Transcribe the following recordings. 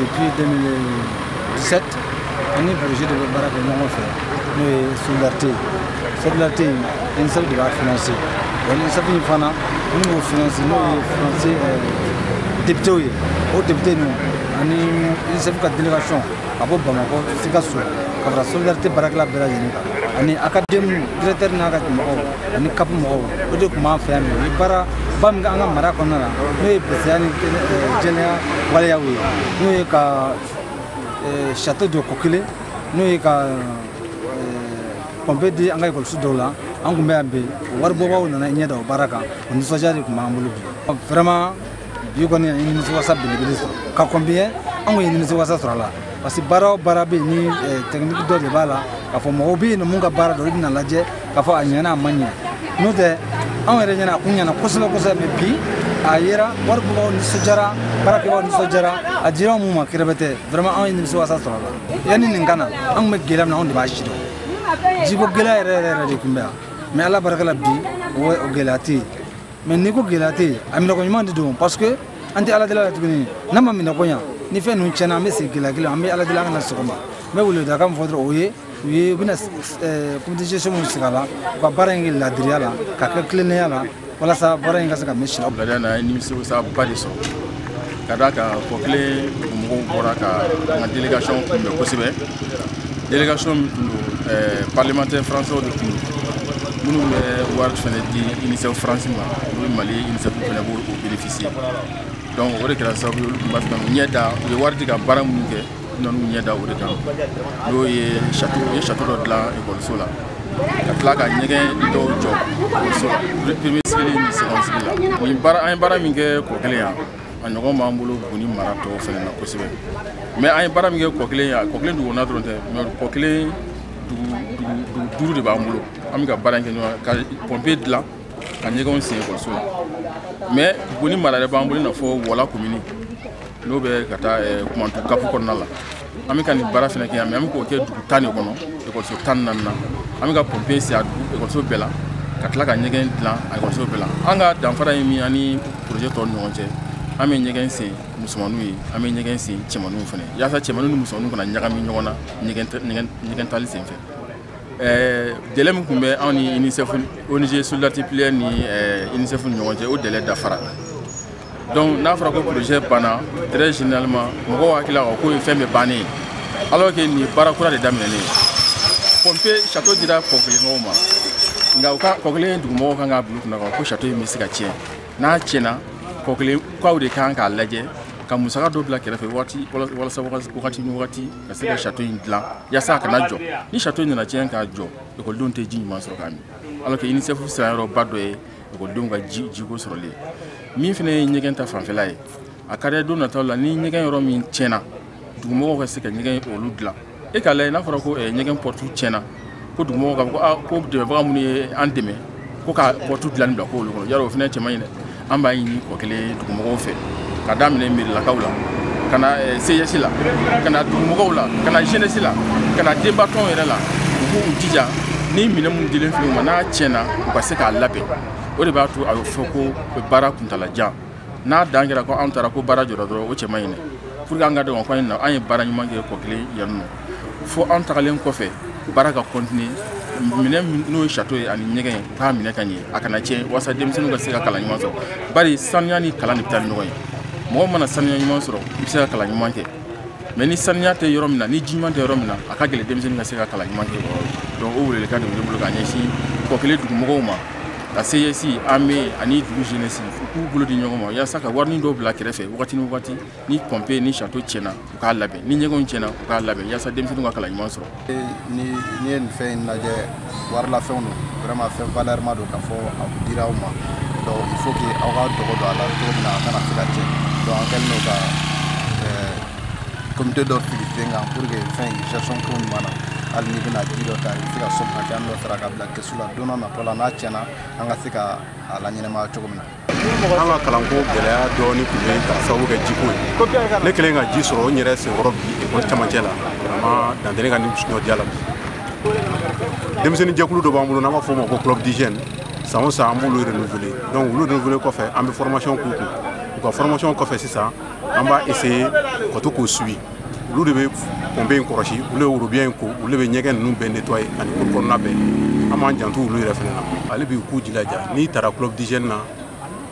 Depuis 2017, an ni projet de bɛ baara kɛ ɲɔgɔn fɛ n'o ye solidarité solidarité in UNICEF de b'a financer wa UNICEF in fana minnu b'o financer n'o ye français députés ye o députés ninnu ani UNICEF ka délégation ka bɔ Bamakɔ Sikaso ka fara solidarité baarakɛla bɛɛ lajɛlen kan ani académie directeur n'a ka mɔgɔw ani kapu mɔgɔw o de tun b'an fɛ yan ni baara ba min k'an ka mara kɔnɔna na n'o ye bɛsɛya ni jɛnɛya waleyaw ye n'o ye ka sato jɔ Kokele n'o ye ka pɔnpe di an ka ekɔliso dɔw la an tun bɛ yan bi waribɔbaaw nana u ɲɛ da o baara kan o nisɔndiya de tun b'an bolo bi vraiment bi kɔni an ye nimisi wasa belebele sɔrɔ ka kɔnbiyɛn an kɔni ye nimisi wasa sɔrɔ a la parce que baara o baara bɛ yen ni eh, tɛkiniki dɔ de b'a la k'a fɔ mɔgɔw bɛ yen minnu ka baara don olu bɛn'a lajɛ k'a fɔ a ɲɛna a ma ɲɛ n'o tɛ anw yɛrɛ ɲɛ na a kun ɲɛna kosɛbɛ kosɛbɛ mɛ bi a yera wari bɔbaaw nisɔndiyara baara kɛbaaw nisɔndiyara a dira anw ma kɛrɛbɛtɛ vraiment anw ye nimisi wasa sɔrɔ a la yanni nin ka na an tun bɛ gɛlɛya min na anw de b'a sidɔn jiko gɛlɛya yɛrɛ yɛrɛ yɛrɛ de tun bɛ yan mɛ ala barika la bi o gɛlɛya tɛ yen mɛ n'i ko gɛlɛya tɛ yen a minɛko ɲuman de don parce que an tɛ ala deli la tuguni n'an m'a minɛko ɲa ni fɛn ninnu tiɲɛna an bɛ segin gɛlɛya kelen an bɛ ala deli an kana segin o ma n bɛ weledaka min fɔ dɔrɔn o ye u ye u bɛna commission minnu sigi a la u ka baara in kɛ laadiriya la ka kɛ tilennenya la walasa baara in ka se ka mɛn si la. Laadiriya la an ye nimisiwasaba de sɔrɔ. ka d'a kan Kokele mɔgɔw bɔra ka an ka délégation kunbɛn kosɛbɛ délégation min tun don eh, parlementaire français de tun don minnu bɛ wari fɛnɛ di unicef france ma olu mali unicef fɛnɛ b'o bénéficier donc o de kɛra sababu ye olu tun b'a fɛ k'u ɲɛ da u ye wari di ka baara minnu kɛ nan'u ɲɛ da o de kan n'o ye sato u ye sato dɔ dilan ekɔliso la ka tila ka ɲɛgɛn dɔw jɔ ekɔliso la premier cycle ni second cycle la nin baara an ye baara min kɛ Kokele yan a ɲɔgɔn b'an bolo buguni mara tɔw fɛnɛ na kosɛbɛ mɛ an ye baara min kɛ Kokele yan Kokele dugukɔnɔna dɔrɔn tɛ mɛ Kokele dugu duuru de b'an bolo an bɛ ka baara in kɛ n'o ye ka pɔnpe dilan ka ɲɛgɛnw sen ekɔliso la mɛ buguni mara yɛrɛ b'an bolo i n'a fɔ wɔla komini n'o bɛ ka taa eh, kumantu kapu kɔnɔna la an bɛ ka nin baara fana kɛ yen mɛ an bɛ k'o kɛ dugu tan de kɔnɔ ekɔliso tan ni naani na an bɛ ka pɔnpe sigi a dugu ekɔliso bɛɛ la ka tila ka ɲɛgɛn dilan a ekɔliso bɛɛ la an ka danfara ye min ani poroze tɔw ni ɲɔgɔn cɛ an bɛ ɲɛgɛn sen musomaninw ye an bɛ ɲɛgɛn sen cɛmaninw fana yaasa cɛmaninw ni musomaninw kana ɲagami ɲɔgɔn na ɲɛgɛn taali sen fɛ Eh, délai min tun bɛ anw ni unicef ong solidarité plurielle ni eh, unicef ni ɲɔgɔn cɛ o délai dafara donc n'a fɔra ko projet banna très généralement mɔgɔw hakilila k'a k'o ye fɛn bɛɛ bannen ye alors que nin ye baara kura de daminɛlen ye pompe ni château dira kɔkelemɔgɔw ma nka u ka kɔkele dugumɔgɔw kan k'a bila u kunna k'a fɔ ko château in bɛ se ka tiɲɛ n'a tiɲɛna kɔkelekaw de kan k'a lajɛ ka musaka dɔ bila kɛrɛfɛ waati walasa wagati ni wagati ka se ka château in dilan yasa a kana jɔ ni château in nana tiɲɛ ka jɔ ekɔlidenw tɛ ji ɲuman sɔrɔ k'a min alors que unicef siranyɔrɔba dɔ ye ekɔlidenw ka jiko sɔrɔli ye min fana ye ɲɛgɛn ta fanfɛla ye a ka di don nataw la ni ɲɛgɛn yɔrɔ min tiɲɛna dugumɔgɔw ka se ka ɲɛgɛn olu dilan e k'a lajɛ n'a fɔra ko ɲɛgɛn pɔrɔtu tiɲɛna ko dugumɔgɔw k'a fɔ ko aa ko dɛmɛbaga minnu ye an dɛmɛ ko ka pɔrɔtu dilanni bila k'olu kɔnɔ yarɔ o fana cɛ man ɲi dɛ an b'a ɲini kɔkele dugumɔgɔw fɛ ka daminɛ mairielakaw la ka na eh, CGS la ka na dugumɔgɔw la ka na jeunesse la ka na denbatɔnw yɛrɛ la u k'u jija ni minɛn minnu dilen filɛ u ma n'a tiɲɛna u ka se k'a labɛn o de b'a to a bɛ fɔ ko baara kuntaala jan n'a dan kɛra ko anw taara ko baara jɔra dɔrɔn o cɛ man ɲi dɛ pour que an k'a dɔn ko an ye baara ɲuman kɛ kɔkele yan nɔ fo an tagalen kɔfɛ baara ka continuer minɛn n'o ye château ye ani ɲɛgɛn ye k'a minɛ ka ɲɛ a kana tiɲɛ walasa denmisɛnninw ka se ka kalan ɲuman sɔrɔ bari sanuya ni kalan de bɛ taa ni ɲɔgɔn ye mɔgɔ mana sanuya ɲuman sɔrɔ i bɛ se ka kalan ɲuman kɛ mais ni saniya tɛ yɔrɔ min na ni ji ɲuman tɛ yɔrɔ min na a ka gɛlɛn denmisɛnnin ka se ka kalan ɲuman kɛ o yɔrɔ la donc o welelikan de bɛ ne bolo ka ɲɛsin kɔkele dugumɔgɔw ma ka CGS AME ani dugu jeunesse u k'u bolo di ɲɔgɔn ma yasa ka warinin dɔw bila kɛrɛfɛ wagati ni wagati ni pompe ni château tiɲɛna u k'a labɛn ni ɲɛgɛnw tiɲɛna u k'a labɛn yasa denmisɛnninw ka kalan ɲuman sɔrɔ ni n'i ye nin fɛn in lajɛ warilafɛnw don vraiment fɛn valeurma don k'a fɔ a dira aw ma donc il faut que aw ka dɔgɔ don a la cogo min na a kana se ka tiɲɛ donc an kɛlen don ka komite dɔ sigi sen kan pour que fɛn in gestion ko ɲuman na hali n'i bɛna ji dɔ ta i bɛ se ka somme hakɛya dɔ sara ka bila kɛsu la don dɔ natɔ la n'a tiɲɛna an ka se ka a laɲɛnamaya cogo min na an ka kalanko gɛlɛya dɔɔni tun bɛ k'a sababu kɛ jiko ye ne kɛlen ka ji sɔrɔ n yɛrɛ senkɔrɔ bi ekɔli camancɛ la vraiment dan tɛ ne ka nisɔndiya la bi denmisɛnnin jɛkulu dɔ b'an bolo n'an b'a fɔ o ma ko club d'hygiène san o san an b'olu renouveler donc olu renouveler kɔfɛ an bɛ formation k'u kun u ka formation kɔfɛ sisan an b'a essayer ka to k'u suivi olu de bɛ pompe in kɔrɔsi olu de bɛ worobinɛ in ko olu de bɛ ɲɛgɛn ninnu bɛɛ nettoyer ani cour kɔnɔna bɛɛ an b'an janto olu yɛrɛ fana na hali bi u k'u jilaja n'i taara club d'hygiène na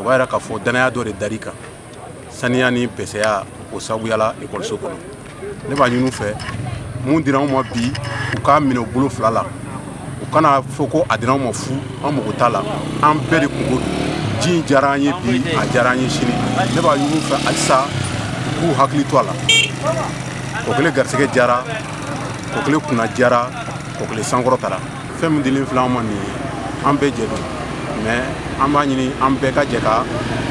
o b'a yira k'a fɔ danaya dɔ de dar'i kan saniya ni bɛsɛya o sababuya la ekɔliso kɔnɔ ne b'a ɲini u fɛ mun dira anw ma bi u k'a minɛ u bolo fila la u kana fɔ ko a dira anw ma fu an mago t'a la an bɛɛ de kunko ji in diyara an ye bi a diyara an ye sini ne b'a ɲini u fɛ halisa u k'u hakili to a la kɔkele garisɛgɛ diyara kɔkele kunna diyara kɔkele sankɔrɔtara fɛn min dilen filɛ an ma nin ye an bɛɛ jɛ don mais an b'a ɲini an bɛɛ ka jɛ ka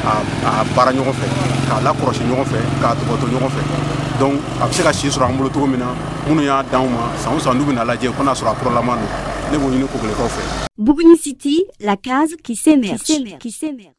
a baara ɲɔgɔn fɛ k'a lakɔrɔsi ɲɔgɔn fɛ k'a tɔpɔtɔ ɲɔgɔn fɛ donc a bɛ se ka si sɔrɔ an bolo cogo min na minnu y'a d'anw ma san o san n'u bɛna lajɛ ko n'a sɔrɔ a kuralama don ne b'o ɲini kɔkelekaw fɛ buguni city la case qui s'émerge